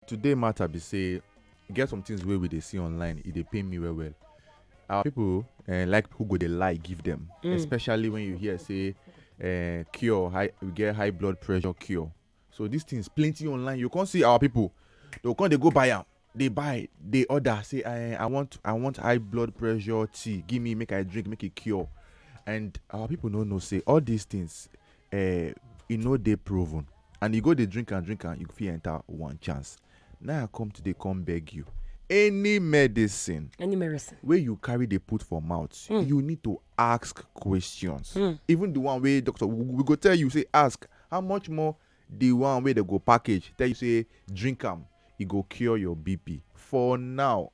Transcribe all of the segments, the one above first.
today matter be say e get some things wey we dey see online e dey pain me well well our people uh, like who go dey lie give them mm. especially when you hear say uh, cure high we get high blood pressure cure so these things plenty online you can't see our people they come dey go buy am dey buy dey order say i i want i want high blood pressure tea give me make i drink make e cure and our people no know say all these things eh, e no dey proven and you go dey drink am drink am you fit enter one chance now i come today come beg you any medicine any medicine wey you carry dey put for mouth hmm. you need to ask questions hmm. even the one wey doctor we go tell you say ask how much more the one wey dey go package tell you say drink am e go cure your bp for now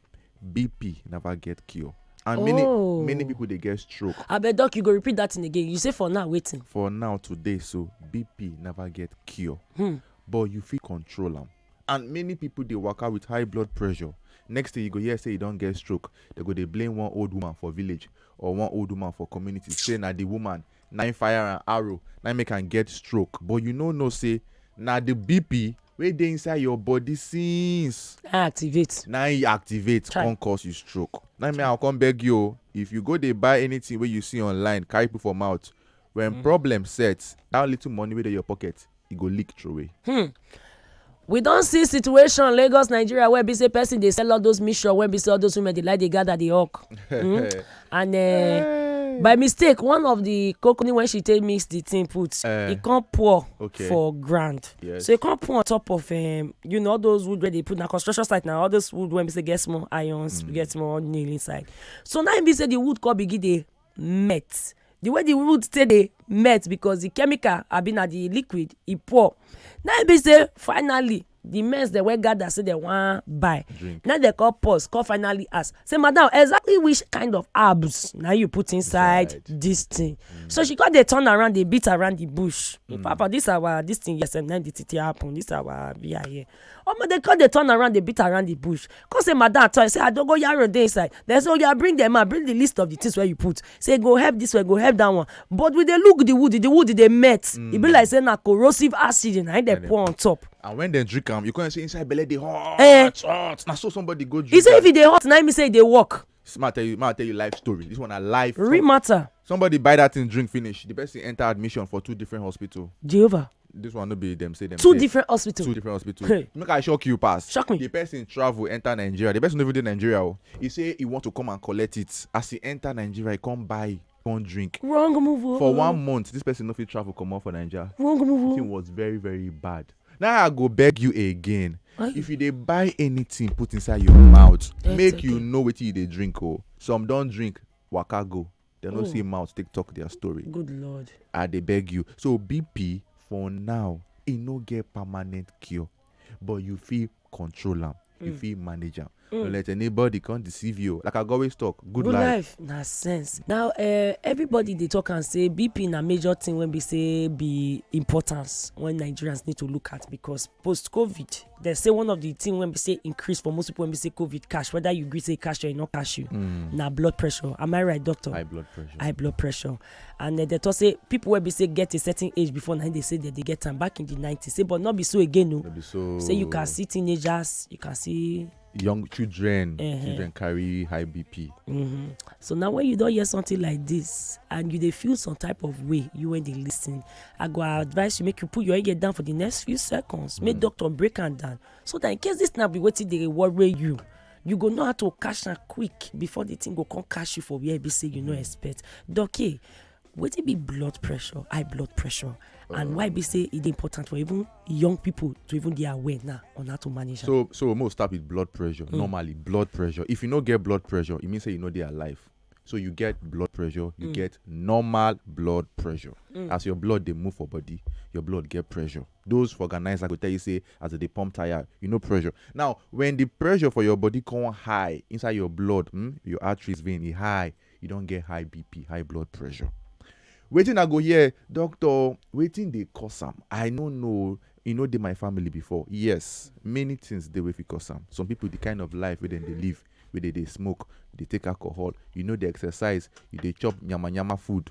bp never get cure and many oh. many people dey get stroke abeg doc you go repeat that thing again you say for now wetin for now today so bp never get cure hmm. but you fit control am and many people dey waka with high blood pressure next thing you go hear say you don get stroke they go dey blame one old woman for village or one old woman for community say na the woman na im fire am arrow na im make am get stroke but you no know say na the bp wey dey inside your body since I activate. na e activate Chai. come cause you stroke na me i come beg you o if you go dey buy anything wey you see online carry put for mouth when problem set that little money wey dey your pocket e go leak throway. Hmm. we don see situation lagos nigeria where be say person dey sell all those mission wey be say all those women dey like dey gather dey hawk hmm? and uh, by mistake one of the coconut when she take mix the thing put uh, eh. e come pour okay. for ground yes. so e come pour on top of um, you know all those wood wey dey put na construction site na all those wood wey be say get small irons mm. get small nail inside so now e be say the wood come begin dey melt the way the wood take dey melt because the chemical abi na the liquid e pour na im be say finally the mess dem wey gather say dem wan buy na dem come pause come finally ask say madam exactly which kind of herbs na you put inside right. this thing mm. so she come dey turn around dey beat around the bush mm. papa this our this thing yes na the thing happen this our beer here omo dem come dey turn around dey beat around the bush come say madam at times say adogoyaro dey inside dem say oya bring dem out bring the list of the things wey you put say e go help this one e go help that one but we dey look the wood the wood dey melt mm. e be mm. like say na corrosive acid na him dey pour on top. and when dem drink am you come say inside belle dey hot eh. hot na so somebody go drink am. he say if e dey hot na him say e dey work. ma tell you ma tell you life story this one na life. real matter. somebody buy that thing drink finish the person enter admission for two different hospital. jehovah. this one no be dem say dem two say different hospital two different hospital Hey. make i shock you pass Shock me. the person travel enter nigeria the person no even dey nigeria o he say he want to come and collect it as he enter nigeria he come buy come drink wrong move o for one month this person no fit travel comot for naija wrong the move thing o was very very bad now i go beg you again Why? if you dey buy anything put inside your mouth That's make you okay. know wetin you dey drink o some don drink waka go dem no see mouth take talk their story Good Lord. i dey beg you so bp for now e no get permanent cure but you fit control am you fit manage am no let anybody come deceive you o. like i go always talk good Good life life na sense. Now uh, everybody dey talk am say BP na major thing wey be say be importance when Nigerians need to look at because post covid dem say one of the thing wey be say increase for most people wey be say covid cash whether you gree say cash or e no cash you mm. na blood pressure am i right doctor high blood pressure high blood pressure and uh, they talk say people wey be say get a certain age before na they say that they get am back in the nineties say but no be so again o no. so say you can see teenagers you can see young children uh-huh. children carry high bp mm-hmm. so now when you don hear something like this and you dey feel some type of way you when dey lis ten i go advise you make you put your ear down for the next few seconds make mm. doctor break am down so that in case this na be wetin dey worry you you go know how to catch am quick before the thing go come catch you for where e be say you no mm. expect doc wetin be blood pressure high blood pressure and why be say e dey important for even young people to even dey aware now on how to manage am. so so mo start with blood pressure mm. normally blood pressure if you no get blood pressure e mean say you no dey alive so you get blood pressure you mm. get normal blood pressure mm. as your blood dey move for body your blood get pressure those for organizer go tell you say as e dey pump tire you no pressure now when the pressure for your body come high inside your blood mm, your arteries vein e high you don get high bp high blood pressure wetin i go hear doctor wetin dey cause am i no know e no dey my family before yes many things dey wey fit cause am some people the kind of life wey dem dey live wey dey dey smoke dey take alcohol you no dey exercise you dey chop yamayama food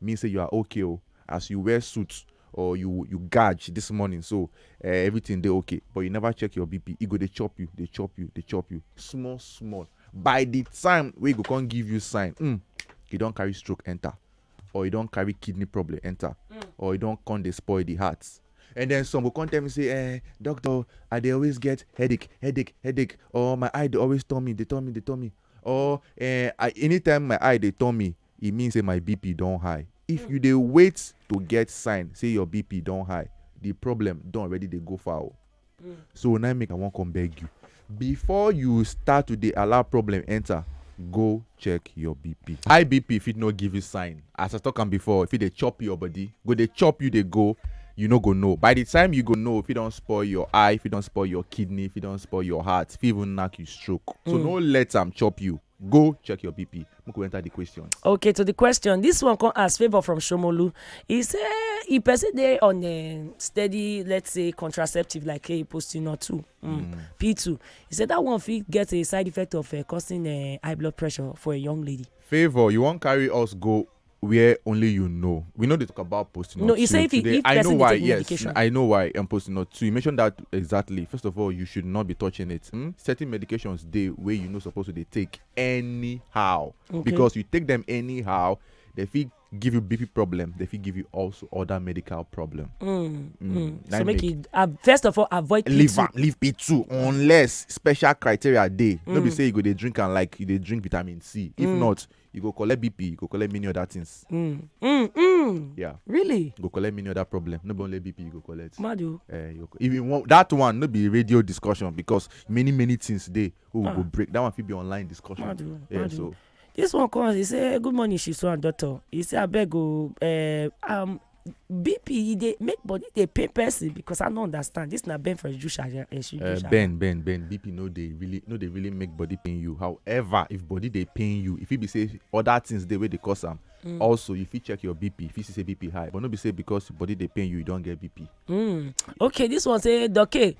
mean say you are okay o as you wear suit or you you gaj this morning so eh, everything dey okay but you never check your bp e go dey chop you dey chop you dey chop you small small by the time wey e go come give you sign mm, you don carry stroke enter or you don carry kidney problem enter or you don come dey spoil the heart and then some go come tell me say eh doctor i dey always get headache headache headache or my eye dey always turn me dey turn me dey turn me or eh I, anytime my eye dey turn me e mean say my BP don high. If you dey wait to get sign say your BP don high, the problem don already dey go far o. So na im make I wan come beg you, before you start to dey allow problem enter, go check your BP. High BP fit no give you sign, as I talk am before, e fit dey chop your body, go dey chop you dey go, you no go know. By the time you go know, e fit don spoil your eye, e fit don spoil your kidney, e fit don spoil your heart, e fit even knack you stroke. So no let am chop you. Go check your BP. Make we enter the question. Okay, to the question, this one come as favor from Shomolu. He say if person dey on a steady, let's say contraceptive like a posting or two, mm, mm. P two, he said that one fit get a side effect of uh, causing uh, high blood pressure for a young lady. Favor, you wan carry us go where only you know. We know they talk about posting. No, you say if, today. if I know why. Yes, medication. I know why. I'm posting not two. You mentioned that exactly. First of all, you should not be touching it. Hmm? Certain medications they where you know supposed to they take anyhow okay. because you take them anyhow. They feel give you BP problem, they fit give you also other medical problem. Mm, mm. Mm. So make, make it uh, first of all avoid P2. Leave, am, leave P2 unless special criteria dey. Mm. No be mm. say you go dey drink and like you dey drink vitamin C. If mm. not, you go collect bp you go collect many other things mm. Mm, mm. yeah really you go collect many other problem no be only bp you go collect madu uh, eh, you go, even one, that one no be radio discussion because many many things dey wey we ah. go break that one fit be online discussion madu yeah, madu so. this one come he say good morning shisu and doctor he say abeg o uh, um, BP e dey make body dey pain person because I no understand this na Ben for Ejusha eh, eh, uh, Ben Ben Ben BP no dey really no dey really make body pain you however if body dey pain you if e be say other things dey wey dey cause am mm. also you fit check your bp you fit see say bp high but no be say because body dey pain you you don get bp. Mm. okay this one say doke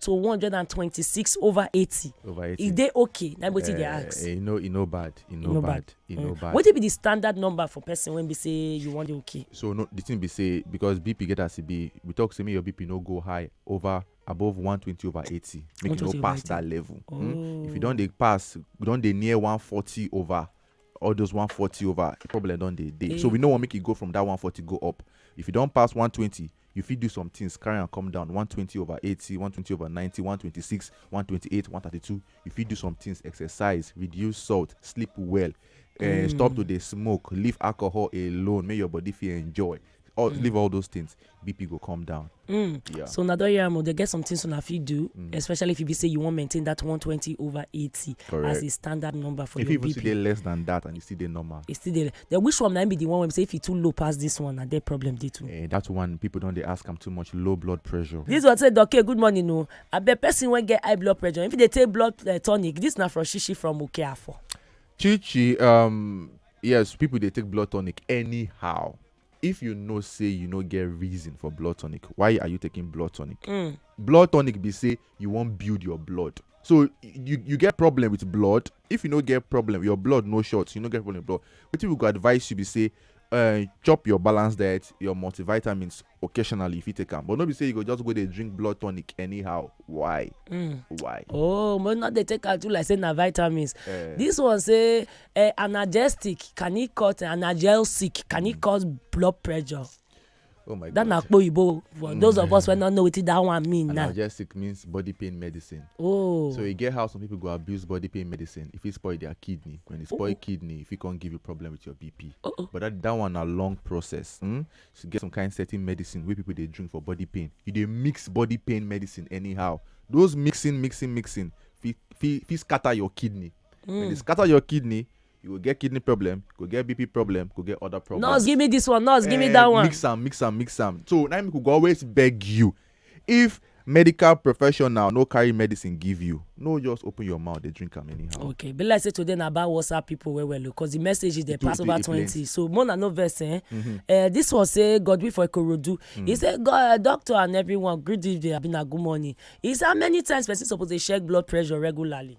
to 126 over 80 over 80 e dey okay na wetin uh, dey eh, ask e eh, no e no bad e no, no bad e no mm. bad wetin be the standard number for person wey be say you wan dey okay so no the thing be say because bp get as e be we talk say make your bp no go high over above 120 over 80 make you no pass that level oh. mm? if you oh. don dey pass you don dey near 140 over all those 140 over problem don dey dey so eh. we no wan make e go from that 140 go up if you don pass 120 You fit do some things carry am come down one twenty over eighty, one twenty over ninety, one twenty six, one twenty eight, one thirty two. You fit do some things exercise, reduce salt, sleep well, eh, stop to dey smoke, leave alcohol alone, make your body fit enjoy. All, Leave all those things, BP go come down. Yeah. so una don hear am o dey get some things una fit do especially if e be say you wan maintain that one twenty over eighty as Correct. a standard number for If you your even still bp dey less than that and you still dey normal, e still dey Then which one na im be the one wey be say if e too low pass this one na there problem dey too. Eh, that one people don dey ask am too much low blood pressure. This one say Doke good morning o. Abeg person wey get high blood pressure if e dey take blood eh, tonic this na from Shishi from Okeafo. Chichi, um, yes, people dey take blood tonic anyhow. If you know say you no get reason for blood tonic, why are you taking blood tonic? Blood tonic be say you wan build your blood. So you you get problem with blood, if you no get problem your blood no short you no get problem blood wetin we go advise you be say uh, chop your balanced diet your multivitamins occasionally if you take am but no be say you go just go dey drink blood tonic anyhow why mm. why oh but not dey take am too like say na vitamins uh, this one say uh, analgesic can e cause analgesic can e mm. cause blood pressure Oh my that na akpo oyibo for mm. those of us wey no know wetin that one mean na. analgesic means body pain medicine. oh so e get how some people go abuse body pain medicine e fit spoil their kidney when e spoil oh. kidney e fit come give you problem with your bp. Oh, oh. but that that one na long process. Hmm? so get some kind certain medicine wey people dey drink for body pain you dey mix body pain medicine anyhow those mixing mixing mixing fit fit fit scatter your kidney. Mm. when e hmm. scatter your kidney you go get kidney problem go get bp problem go get other problems. nurse give me this one nurse give me eh, that one. mix am mix am mix am so na im go always beg you if medical professional no carry medicine give you no just open your mouth dey drink am anyhow. okay be like say today na about whatsapp people well well because the message is dey pass over twenty so more na no vex eh. Mm -hmm. uh, this one say godwin for ikorodu mm. he say god uh, doctor and everyone greet you dey abina good morning he say how many times person suppose dey check blood pressure regularly.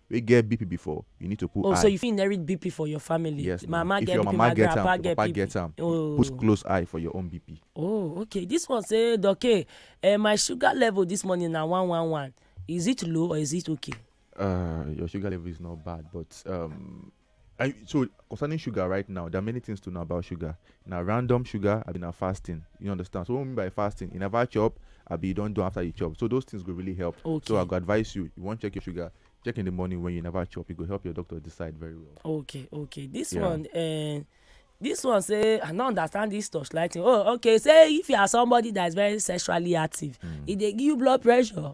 wey get BP before you need to put Oh so eye. you fit inherit BP for your family? Yes my na, mama if get your BP, mama my get am, grandpa if your get papa BP. get am, put Oh. close eye for your own BP. Oh okay, this one say Doke, eh, my sugar level this morning na one one one, is it low or is it okay? Uh, your sugar level is not bad but um I, so concerning sugar right now, there are many things to know about sugar. Now random sugar, I mean now fasting. You understand? So what I mean by fasting, you never chop, I be you don't do after you chop. So those things will really help. Okay. So I go advise you, you want to check your sugar, check in the morning when you never chop. It will help your doctor decide very well. Okay, okay. This yeah. one uh, this one say i no understand this torchlight thing oh okay say if you are somebody that is very sexually active mm. e dey give you blood pressure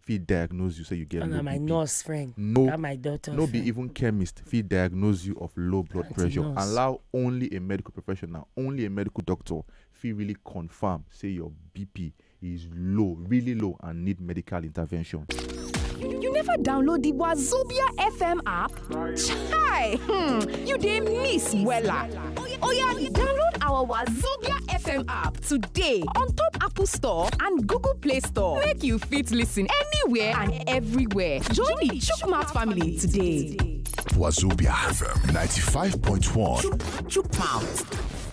fit diagnose you say you get and low na my bp nurse friend no that my doctor no be friend. even chemist fit diagnose you of low blood Aunty pressure nurse. allow only a medical professional only a medical doctor fit really confirm say your bp is low really low and need medical intervention. You never download the Wazobia FM app? Chai! Hmm, you dey miss wella. Oya, download our Wazobia FM app today on top Apple Store and Google Play Store. Make you fit listen anywhere and everywhere. Join the Chukwumouth family today. Wazobia FM 95.1. Chukwumouth.